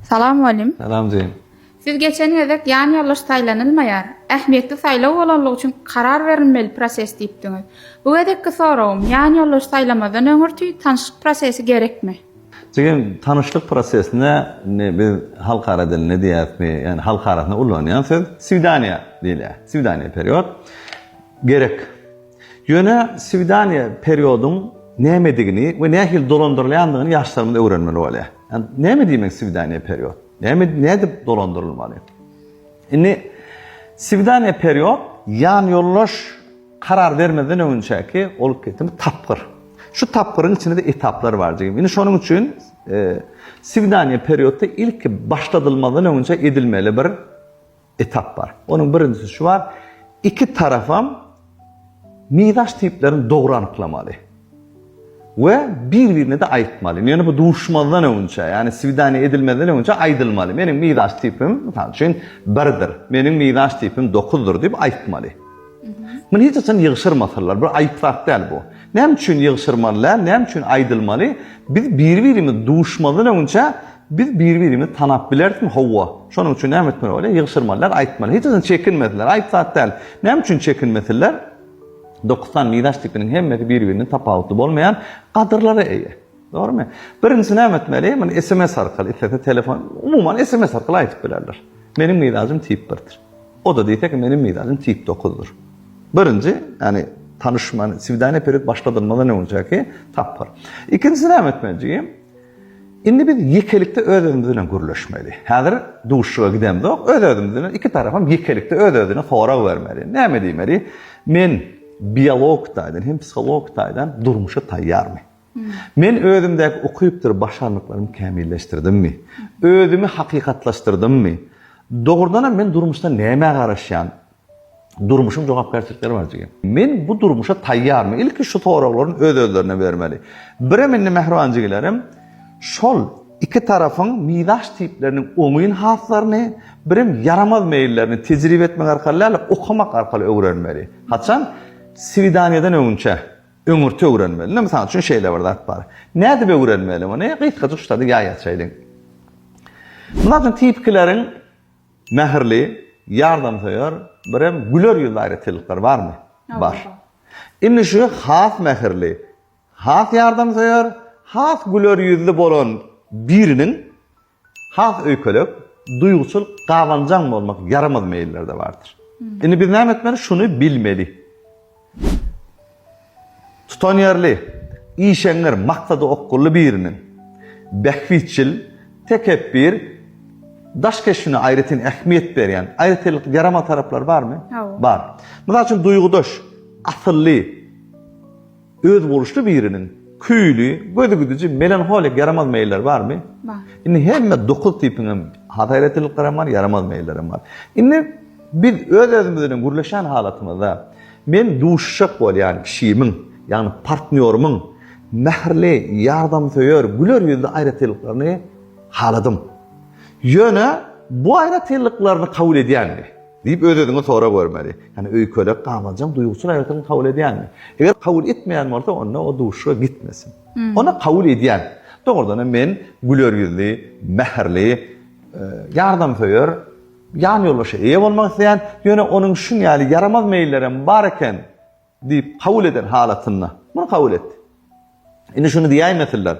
Salam Mugallim. Salam jigim. Siz geçen gezek ýan ýoldaş saýlanylmaýar, ähmiýetli saýlaw bolanlygy üçin karar berilmeli proses diýipdiňiz. Bu gezekki soragym, ýan ýoldaş saýlamazdan öňürti tanyşlyk prosesi gerekmi? Jigim, tanyşlyk prosesine indi biz halkara dilinde diýýäsmi, ýani halkarasynda ulanýan söz swidaniýa diýilýär. Swidaniýa period gerek. Ýöne swidaniýa periodyň nämedigini we nähili dolandyrylýandygyny ýaşlarymyz öwrenmeli bolýar. Näme diýmek swidaniýa period? Näme nädip dolandyrylmaly? Indi swidaniýa period ýan ýoldaş karar bermezden öňünçäki bolup geçen tapgyr. Şu tapgyryň içinde etaplar bar jigim. Indi şonuň üçin swidaniýa periodda ilki başladylmazdan öňünçä edilmeli bir etap bar. Onuň birinjisi şu bar, iki tarapam mizaç tiplerini dogry anyklamaly we bir-birine-de aýtmaly. Ýöne bu duşmazdan öňünçä, ýagny swidaniýa edilmezden öňünçä aýdylmaly. Meniň mizaç tipim, mysal üçin, birdir, meniň mizaç tipim dokuzdyr diýip aýtmaly. Muny hiç haçan ýygşyrmasalar, bir aýyp zat däl bu. Näme üçin ýygşyrmaly däl, näme üçin aýdylmaly? Biz biri-birimiz duşmazdan öňçä biz biri-birimizi tanap bilerismi? Hawa. Şonuň üçin näme etmeli bolýar? Ýygşyrmaly däl, aýtmaly. Hiç haçan çekinmesinler, aýyp zat däl. Näme üçin çekinmesinler? Dokuz sany miraç tipiniň hemmesi biri-birinden tapawutly bolmaýan gadyrlara eýe. Dogrymy? Birinji näme etmeli? Muny SMS arkaly, islese telefon, umuman SMS arkaly aýdyp bilerler. Meniň mizajym tip birdir. O da diýse ki, meniň mizajym tip dokuzdyr. Birinji, ýani tanyşman, swidaniýa perit başladyrmadan öňjäki tapgyr. Ikinjisi näme etmeli? Indi biz ýekelikde öz-özümiz bilen gürleşmeli. Häzir duşuşyga gidemzok, öz-özümiz bilen iki tarapam ýekelikde öz-özüne sorag bermeli. Näme diýmeli? Men biolog taýdan hem psiholog taýdan durmuşa taýýarmy? Men özümdäki ukypdyr başarnyklarymy kämilleşdirdimmi? Özümi hakykatlaşdyrdymmy? Dogrudanam men durmuşda nämä garaşýan? Durmuşyň jogapkärçilikleri bar jigim. Men bu durmuşa taýýarmy? Ilki şu soraglaryny öz-özlerine bermeli. Birem indi mähriban jigilerim şol iki tarapyň mizaç tipleriniň oňyn haslaryny, birem ýaramaz meýillerini tejribe etmek arkaly däl-de, okamak arkaly öwrenmeli. Haçan? Swidaniýadan öňünçä. Öňürti öwrenmeli. Ine, mysal üçin şeýle bir zat bar. Nädip öwrenmeli muny? Gysgajyk şu zady ýa açaýlyň. Mysal üçin, tipikileriň mähirli, ýardamsöýer, birem güler ýüzli aýratynlyklary barmy? Bar. Indi şu has mähirli, has ýardamsöýer, has güler ýüzli bolan biriniň Has öýkelek, duýguçyl, gabanjaň bolmak ýaramaz meýiller-de bardyr. Indi biz näme etmeli? Şuny bilmeli. Tutanýerli, işeňňir, maksada okgunly biriniň bähbitçil, tekepbir, daş keşbine aýratyn ähmiýet berýän, aýratynlyk ýarama taraplary barmy? Bar. Mysal üçin, duýgudaş, asylly. Özboluşly biriniň küýli, gözügidiji, melanholik ýaramaz meýilleri barmy? Bar. Indi hemme dokuz tipiň hem has aýratynlyklary hem bar, ýaramaz meýilleri hem bar. Indi biz öz-özümiz bilen gürleşen halatymyzda men duşuşjak bolýan kişimiň, ýagny partnýorymyň mähirli, ýardamsöýer, güler ýüzli aýratynlyklaryny haladym. Ýöne bu aýratynlyklaryny kabul edýänmi? Diýip öz-özüňe sora görmeli. Ýagny öýkelek gabanjaň duýguçyl aýratyn kabul edýäňmi? Eger kabul etmeýän bolsa, onda o duşuşyga gitmesin. Onda kabul edýän. Dogrudan hem men güler ýüzli, mähirli, ýardamsöýer ýanýoldaşa eýe bolmak isleýän, ýöne onuň şuň ýaly ýaramaz meýillerem bar eken. Diýip, kabul eden halatynda. Muny kabul etdi. Indi şuny diýäýmesinler.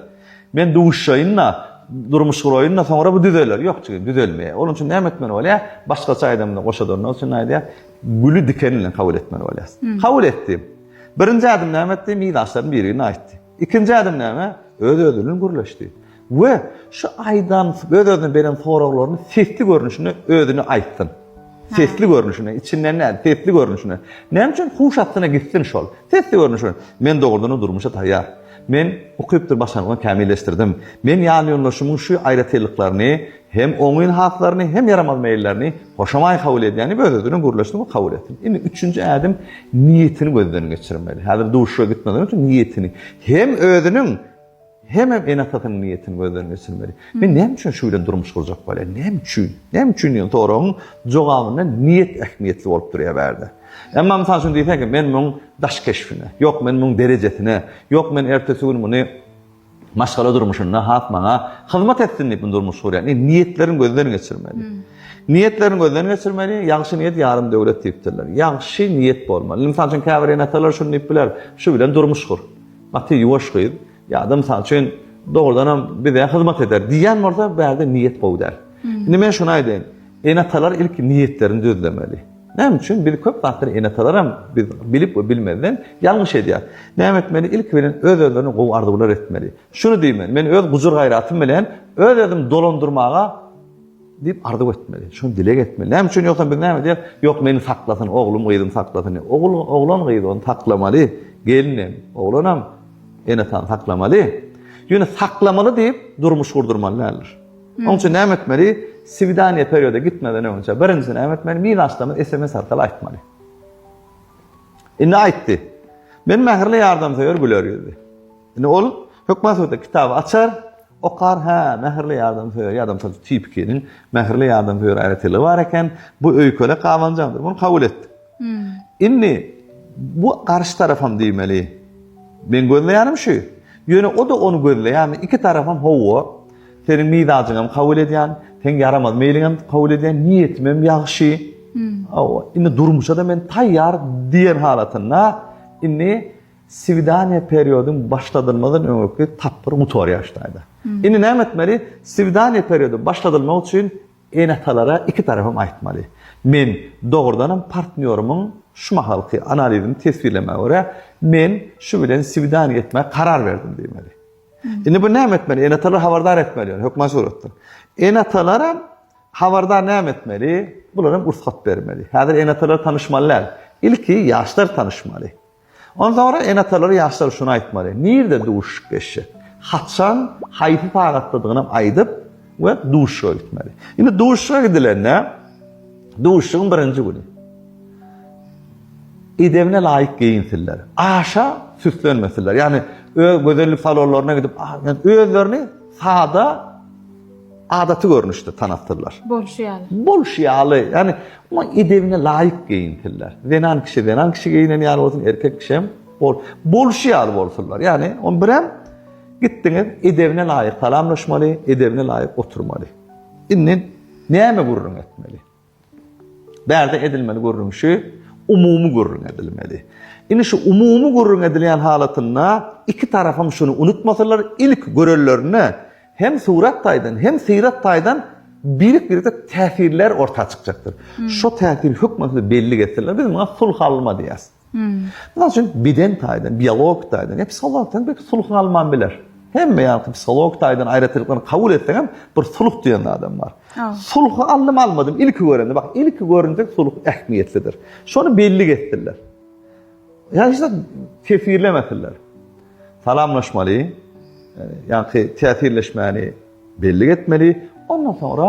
Men duşaýyn-da, durmuş guraýyn-da, soňra bu düzeler. Ýok, jigim, düzelmeýär. Onuň üçin näme etmeli bolýar? Başgaça aýdamda, goşadanlar üçin aýdýar, güli diken bilen kabul etmeli bolýarsyň. Kabul etdi. Birinji ädim näme etdi? Mizaçlaryň birigini aýtdy. Ikinji ädim näme? Öz-özünden gürleşdi. We şu aýdan öz-özüne beren soraglaryny sesli görnüşinde özüne aýtsyn. Sesli görnüşinde, içinden näl, sesli görnüşinde. Näme üçin huş astyna gitsin şol? Sesli görnüşinde. Men dogrudan-da durmuşa taýýar. Men ukypdyr başarnygymy kämilleşdirdim. Men ýanýoldaşymyň şu aýratynlyklaryny Hem oňyn haslaryny, hem ýaramaz meýillerini hoşamaý kabul edýäni öz-özüne gürlesin we kabul etsin. Indi üçünji ädim niýetini gözden geçirmeli. Häzir duşuşyga gitmezden öň niýetini, hem özüniň, hemem ene-atasynyň niýetini gözden geçirmeli. Men näme üçin şu bilen durmuş gurjak bolýan? Näme üçin? Näme üçin diýen soragyň jogabynda niýet ähmiýetli bolup durýar bärde. Emma mysal üçin diýseňki, men muň daş keşbine, ýok men muň derejesine, ýok men ertesi gün muny Maşgala durmuşynda has maňa hyzmat etsin diýip durmuş gurýan. Indi niýetlerini gözden geçirmeli. Niýetlerini gözden geçirmeli. Ýagşy niýet ýarym döwlet diýipdirler. Ýagşy niýet bolmaly. Mysal üçin käbir ene-atalar şuny diýip biler, şu bilen durmuş gur. Gaty ýuwaş gyz ýa-da mysal üçin dogrudan hem bize hyzmat eder diýen bolsa bärde niýet gowy däl. Indi men şuny aýdaýyn. Ene-atalar ilki niýetlerini düzlemeli. Näme üçin biz köp zatlar ene-atalaram biz bilip we bilmezden ýalňyş edýär. Näme etmeli ilki bilen öz özlerine gowy arzuwlar etmeli. Şuny diýmeli men öz gujur gaýratym bilen öz özüm dolandyrmaga diýip arzuw etmeli. Şuny dileg etmeli. Näme üçin ýogsam biz näme edýär? Ýok meni saklasyn oglum gyzym saklasyn. Ogul oglan gyz ony saklamaly. Gelinem oglanam ene-atany saklamaly. Ýöne saklamaly diýip durmuş gurdurmaly däldir. Oň üçin näme etmeli? Swidaniýa perioda gitmeden öňünçä birinji näme etmeli? Miz aşdamy sms arkaly aýtmaly. Indi aýtdy. Men mähirli ýardamsöýer güler ýüzli. Indi ol hökman suratda kitaby açar, okar, hä, mähirli ýardamsöýer ýa-da mysal tipikiniň mähirli ýardamsöýer aýratynlygy bar eken, bu öýkelek gabanjaňdyr. Muny kabul etdi. Indi bu garşy tarapam diýmeli. Meň gözleýänim şu. Ýöne o-da ony gözleýärmi? Iki tarapam hawa. Seniň mizajyňam kabul edýän, seň ýaramaz meýliňem kabul edýän, niýetimem ýagşy. Hawa, indi durmuşa-da men taýýar diýen halatynda indi swidaniýa periodyň başladylmazdan öňürki tapgyr gutarýar şu taýda. Indi näme etmeli? Swidaniýa periody başladylmak üçin Ene-atalara iki tarapam aýtmaly. Men, dogrudanam, partnýorymyň şu mahalky analizini teswirlemäge görä, men şu bilen swidaniýa etmäge karar berdim diýmeli. Indi bu näme etmeli? Ene-atalary habardar etmeli ýöne hökman suratda. Ene-atalaram habardar näme etmeli? Bularam rugsat bermeli. Häzir ene-atalar tanyşmaly däl. Ilki ýaşlar tanyşmaly. Onsoňra ene-atalar ýaşlara şuny aýtmaly, nirde duşuşypleşjek, haçan, haýsy sagatdadygynam aýdyp we duşuşyga gitmeli. Indi duşuşyga gidilende, duşuşygyň birinji güni edebine laýyk geýinsinler, aşa süslenmesinler. Ýagny öz gözellik salonlaryna gidip, özlerini sada, Adaty görnüşde tanatdylar. Bolşy ýaly. Bolşy ýaly, ýagny oňa edebine laýyk geýinsinler. Zenan kişi zenan kişi geýinen ýaly bolsun, erkek kişi hem bol, bolşy ýaly bolsunlar. Ýagny on birem gitdiňiz, edebine laýyk salamlaşmaly, edebine laýyk oturmaly. Indi näme gürrüň etmeli? Bärde edilmeli gürrüň şu, umumy gürrüň edilmeli. Indi şu umumy gürrüň edilýän halatynda iki tarapam şuny unutmasalar, ilki görenlerine hem surat taýdan, hem syrat taýdan birik-birege täsirler orta çykjakdyr. Şo täsir hökmany bellik etseler, biz muňa sulh alma diýýäs. Mysal üçin, beden taýdan, biologik taýdan, ýa psihologik taýdan belki sulh galman biler. Hemme ýaňky psihologik taýdan aýratynlyklaryny kabul etseň hem bir sulh diýen zadam bar. Sulhy aldym almadym, ilki görende, bak, ilki görende sulh ähmiýetlidir. Şony bellik etsinler. Ýa hiç zat tesirlemesinler. Salamlaşmaly, ýaňky täsirleşmäni bellik etmeli. Ondan soňra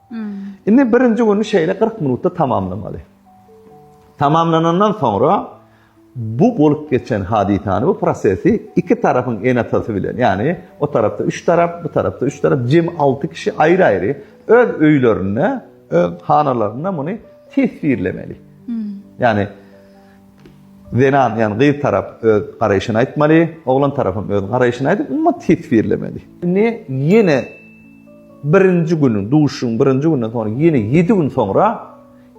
Indi birinji güni şeýle 40 minutda tamamlamaly. Tamamlanandan soňra bu bolup geçen hadysany, bu prosesi iki tarapyň enatasy bilen, ýagny o tarapda üç tarap, bu tarapda üç tarap, jem alty kişi aýry-aýry öz öýlerinde, öz hanalarynda muny teswirlemeli. Ýagny Zenan, ýagny gyz tarap öz garaýşyny aýtmaly, oglan tarapam öz garaýşyny aýdyp, umumat teswirlemeli. Indi ýene birinji günüň, duşuşygyň birinji gününden soň ýene ýedi gün soňra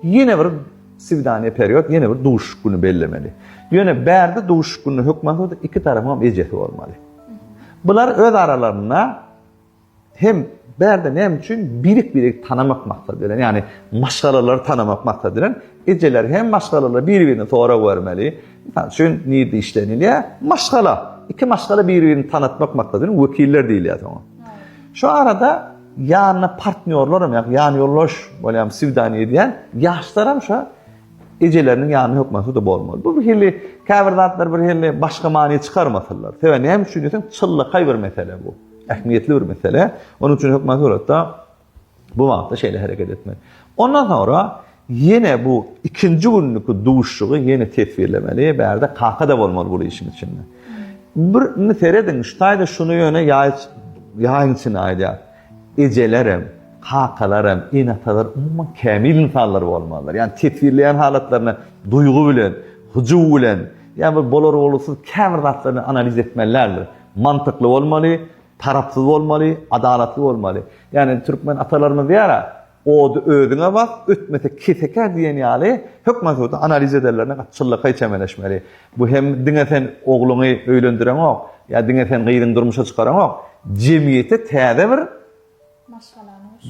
ýene bir swidaniýa period, ýene bir duşuşyk güni bellemeli. Ýöne bärde duşuşyk gününe hökman iki tarapyňam ejesi bolmaly. Bular öz aralarynda Hem bärde näme üçin birik-birigi tanamak maksady bilen, ýagny maşgalalary tanamak maksady bilen ejeler hem maşgalalar biri-birine sorag bermeli. Mysal üçin, nirde işlenilýär? Maşgala. Iki maşgala biri-birini tanatmak maksady bilen wekiller diýilýär soňa. Şu arada ýanyna partnýorlar hem, ýagny ýanýoldaş bolýan, swidaniýa edýän ýaşlar hem şa ejeleriniň ýanyna hökmany da bolmaly. Bu bir hili käbir zatlar bir hili başga many çykarmasynlar. Sebäbi näme üçin diýseň, çynlakaý bir mesele bu. Ähmiýetli bir mesele. Onuň üçin hökman suratda bu wagtda şeýle hereket etmek. Ondan soňra ýene bu ikinji günniki duşuşygy ýene teswirlemeli. Bärde kaka da bolmaly bu işiň içinde. Bir indi serediň, şu taýda şuny ýöne ýaý ýaýyň içinde aýdýar. Ejelerem, kakalaram, ene-atalar umuman kämil ynsanlar bolmalylar. Ýani teswirleýän halatlaryny duýgy bilen, hyjuw bilen, ýa bir bolar-bolgusyz käbir zatlaryny analiz etmelilerdir. Mantykly bolmaly, tarapsyz bolmaly, adalatly bolmaly. Ýagny türkmen atalarymyz diýýär-ä, Ody özüňe bak, ötmese kesekä diýen ýaly hökman şurada analiz ederlerine gaty çyllykaý çemeleşmeli. Bu hem diňe sen ogluňy öýlendireňok, ýa diňe sen gyzyňy durmuşa çykaraňok, jemgyýete täze bir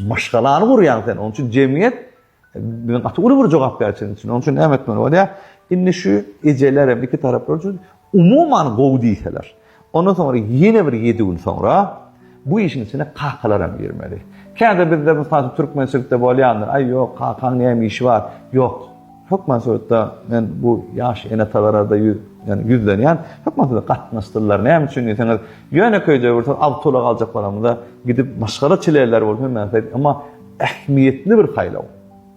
maşgalany gurýaň sen. Onuň üçin jemgyýet Biziň gaty uly bir jogapkärçilik üçin. Onuň üçin näme etmeli bolýar? Indi şu ejeler hem iki taraplar üçin umuman gowy diýseler. Ondan soňra ýene bir 7 gün soňra bu işiň içine kakalar hem girmeli. Käde bizde mysal türkmençilikde bolýandyr. Aý ýok, kakaň näme işi bar? Ýok. Hökman suratda men bu ýaş enatalara da ýüz, ýani ýüzlenýän. Hökman suratda gatnaşdyrlar. Näme üçin diýseňiz, ýöne köýde bir awtoulak aljak bolamyzda gidip maşgala çileler bolup hem näme. Emma Ähmiýetli bir saýlaw.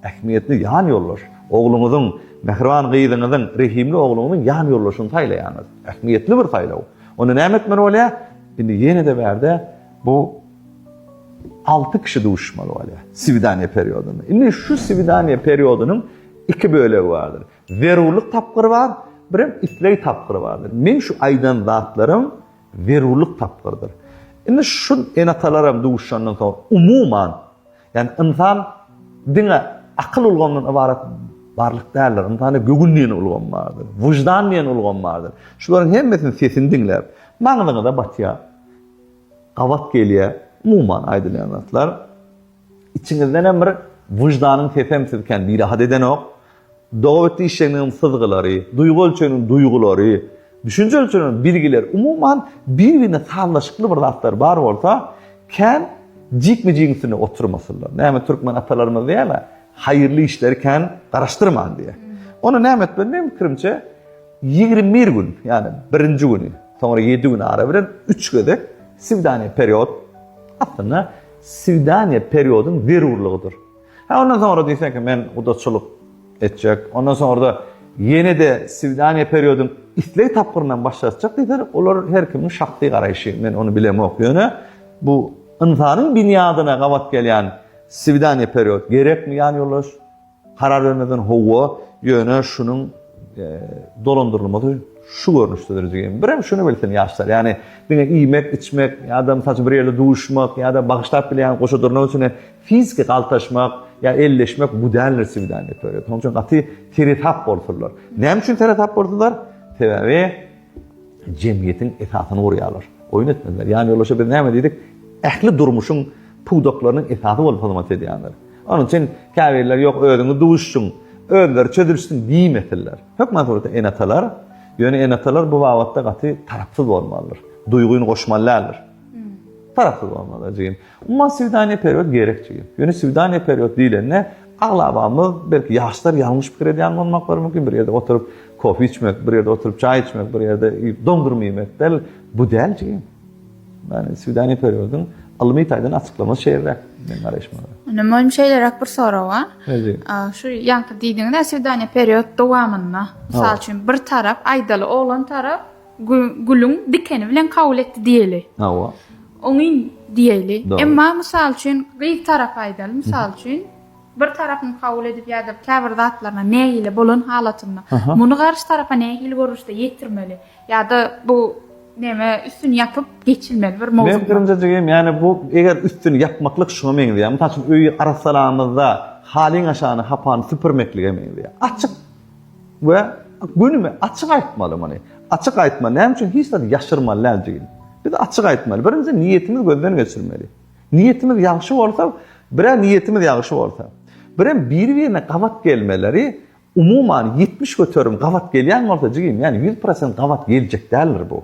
Ähmiýetli ýanýoldaş. Ogluňyzyň, mähriban gyzyňyzyň, rehimli ogluňyzyň ýanýoldaşyny saýlaýaňyz. Ähmiýetli bir saýlaw. Onda näme etmeli bolýar? Indi ýene-de bärde bu alty kişi duşuşmaly bolýar swidaniýa periodynda. Indi şu swidaniýa periodynyň iki bölegi bardyr. Zerurlyk tapgyry bar, birem isleg tapgyry bardyr. Meň şu aýdan zatlarym zerurlyk tapgyrdyr. Indi şu ene-atalaram duşandan soň, umuman, ýagny ynsan diňe akyl ulgamyndan ybarat barlyk däldir. Ynsanda göwün diýen ulgam bardyr, wyždan diýen ulgam bardyr. Şularyň hemmesiniň sesini diňläp, maňzyňyza batýar, gabat gelýär, umuman aýdylýan zatlar. Içiňizdenem bir wyždanyň sesem sizi kän birahat edenok. Dogabit diýişjegiňiziň syzgylary, duýgy ölçeginiň duýgulary, düşünje ölçeginiň bilgileri, umuman, bir-birine sazlaşykly bir zatlar bar bolsa, kän jikme-jigiň üstünde oturmasynlar. Näme türkmen atalarymyz diýýärler, Haýyrly işleri kän garaşdyrman diýýär. Onda näme etmeli? Meniň pikirimçe, ýigrimi bir gün, ýagny birinji güni, soňra ýedi gün ara bilen üç gezek, swidaniýe period, aslynda, Swidaniýa periodyň zerurlygydyr. Hä, ondan soňra diýseň ki, men gudaçylyk etjek, ondan soňra-da ýene-de swidaniýa periodyň isleg tapgyryndan baş dartjak diýseler, olar her kimiň şahsy garaýşy, men ony bilemok. Ýöne bu ynsanyň binýadyna gabat gelýän swidaniýa period gerekmi, ýanýoldaş? Karar bermeden howwa, ýöne şunuň dolandyrylmasy şu görnüşdedir diýen. Birem şuny bilsin ýaşlar. Ýani diňe iýmek, içmek, ýa-da mysal üçin bir ýerde duşmak, ýa-da bagyşlap bilýän goşa durnak üçin fiziki galtaşmak, ýa elleşmek bu däldir swidaniýa. Şonuň üçin gaty seresap bolsunlar. Näme üçin seresap bolsunlar? Sebäbi jemgyýetiň esasyny gurýarlar. Oýun etmediler. Ýanýoldaşa biz näme diýdik? Ähli durmuşyň pudaklarynyň esasy bolup hyzmat edýändir. Onuň üçin käbirler ýok, özüňiz duşuşyň, özleri çözülişsin diýmesinler. Hökman suratda ene-atalar, ýöne ene-atalar bu babatda gaty tarapsyz bolmalydyr. Duýgyny goşmaly däldir. Tarapsyz bolmalydyr jigim. Umuman söwdäni perwert gerek jigim. Ýöne söwdäni perwert diýlende aglabamyz belki ýaşlar ýalňyş pikir edýän bolmaklary mümkin. Bir ýerde oturyp kofe içmek, bir ýerde oturyp çaý içmek, bir ýerde dondurma ýemek däl, bu däl jigim. Ýani söwdäni perwerdiň ylmy taýdan açyklamasy şeýleräk meniň garaýşyma görä. Ine möhüm şeýleräk bir sorag bar. Şu ýaňky diýdiňiz-ä söwdäni perwert dowamynda. Mysal üçin bir tarap aýdaly oglan tarap gülüň dikeni bilen kabul etdi diýeli. Hawa. Oňyn diýeli. Emma mysal üçin gyz tarapy aýdaly mysal üçin bir tarapyň kabul edip ýa-da käbir zatlaryna nägile bolan halatynda muny garşy tarapa nähili görnüşde ýetirmeli ýa-da bu neme üstüni ýapyp geçilmeli bir mowzuk. Meň pikirimje jigim ýani bu eger üstüni ýapmaklyk şuňa meňzeýär. Mysal üçin öýi arassalamyzda halyň aşagyny hapany süpürmeklige meňzeýär. Açyk we günümi açyk aýtmaly muny. Açyk aýtma, näme üçin hiç zat ýaşyrmaly däl jigim. Biz açyk aýtmaly. Birinji niýetimiz gözden geçirmeli. Niýetimiz ýagşy bolsa, birä niýetimiz ýagşy bolsa. Birem biri-birine gabat gelmeleri umuman 70 göterim gabat gelýän bolsa jigim, ýani 100% gabat geljek däldir bu.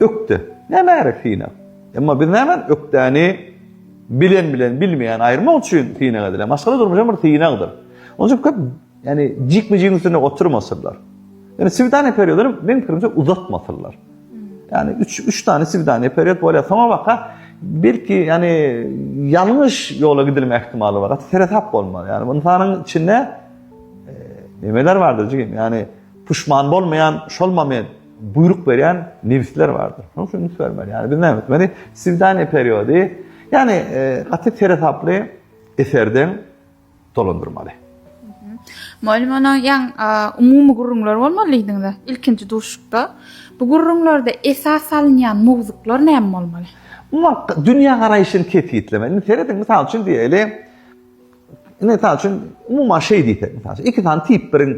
Ökde, nämärä synag? Emma biz näme, ökdäni bilen bilen bilmeýäni aýyrmak üçin synag edilen. Maşgala durmuş hem bir synagdyr. Onuň üçin köp, ýani jikme-jigiň üstünde oturmasynlar. Ýani swidaniýa periodyny meň pikirimçe uzatmasynlar. Ýani üç, üç sany swidaniýa period bolýar. Soňa baka belki ýani ýalňyş ýola gidilme ähtimaly bar. Gaty seresap bolmaly. Ýani ynsanyň içinde e, nemeler bardyr jigim? Ýani puşman bolmaýan şol moment buýruk berýän nebisler bardyr. Şonuň üçin üns bermeli. Ýani biz näme etmeli? Swidaniýa periody, ýani e, gaty seresaply eserden dolandyrmaly. Mugallym onuň ýan umumy gürrüňler bolmaly diýdiňiz. Ilkinji duşukda bu gürrüňlerde esas salynýan mowzuklar näme bolmaly? Umuman dünýä garaýşyny kesgitlemeli. Indi serediň, mysal üçin diýeli, Mysal üçin, umuman şeý diýsek, mysal üçin, iki sany tip biriň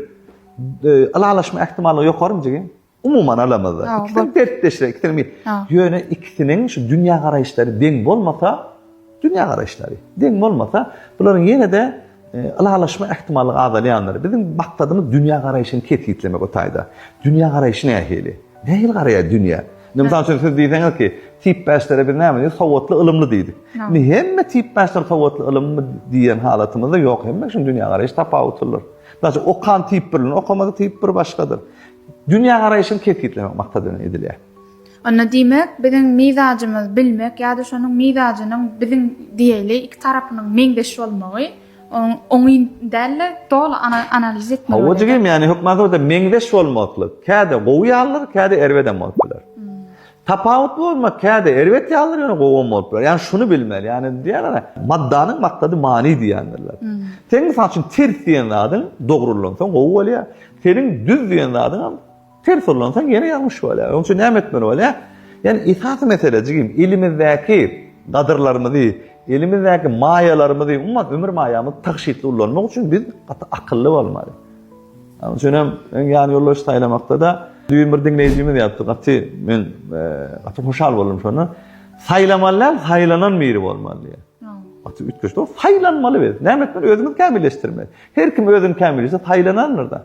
e, ylalaşma ähtimallygy ýokarymy jigim? Umuman alamazda. Ikisini dertdeşler, ikisini. Ýöne ikisiniň şu dünýä garaýyşlary deň bolmasa, dünýä garaýyşlary deň bolmasa, bularyň ýene-de ylalaşma e, ähtimallygy azalýandyr. Biziň maksadymyz dünýä garaýşyny kesgitlemek o taýda. Dünýä garaýşy nähili? Nähili garaýar dünýä? Indi mysal üçin siz diýseňiz ki, tipbäşlere biz näme diýdik? Sowatly, ylymly diýdik. Indi hemme tipbäşler sowatly, ylymly diýen halatymyzda ýok. Hemmeň üçin dünýägaraýyş tapawutlydyr. Mysal üçin, okan tip bir, okamadyk tip bir başgadyr. Dünýägaraýşyny kesgitlemek maksat bilen edilýär. Onda diýmek, biziň mizajymyz bilmek ýa-da şonuň mizajynyň biziň diýeli iki tarapynyň meňzeş bolmagy, Onuň oňyn däldir, doly analiz etmeli. Hawa jigim, ýagny hökman sowda meňzeş bolmakly. Käde gowy ýalydyr, käde erbedem bolup biler. Tapawutly bolmak käde erbet ýalydyr, ýöne gowam bolup biler. Ýagny şuny bilmeli, ýagny diýýärler, maddanyň maksady many diýýändirler. Sen mysal üçin ters diýen zadyň dogry ulansaň gowy bolýar. Seniň düz diýen zadyňam Ters ullansaň ýene ýalňyş bolýar. Onuň üçin näme etmeli bolýar? Ýani esasy mesele jigim elimizdäki gadyrlarymyzy, elimizdäki maýalarymyzy, umuman ömür maýamyzy tygşytly ullanmak üçin biz gaty akylly bolmaly. Onuň üçin hem öň ýan ýoldaş saýlamakda da düýn bir diňleýjimiz ýazdy. Gaty men gaty hoşal boldum şonda. Saýlamaly däl, saýlanan biri bolmaly diýýär. Gaty üýtgeşik. Saýlanmaly biz. Näme etmeli? Özümizi kämilleşdirmeli. Her kim özüni kämilleşdirse saýlanandyr-da.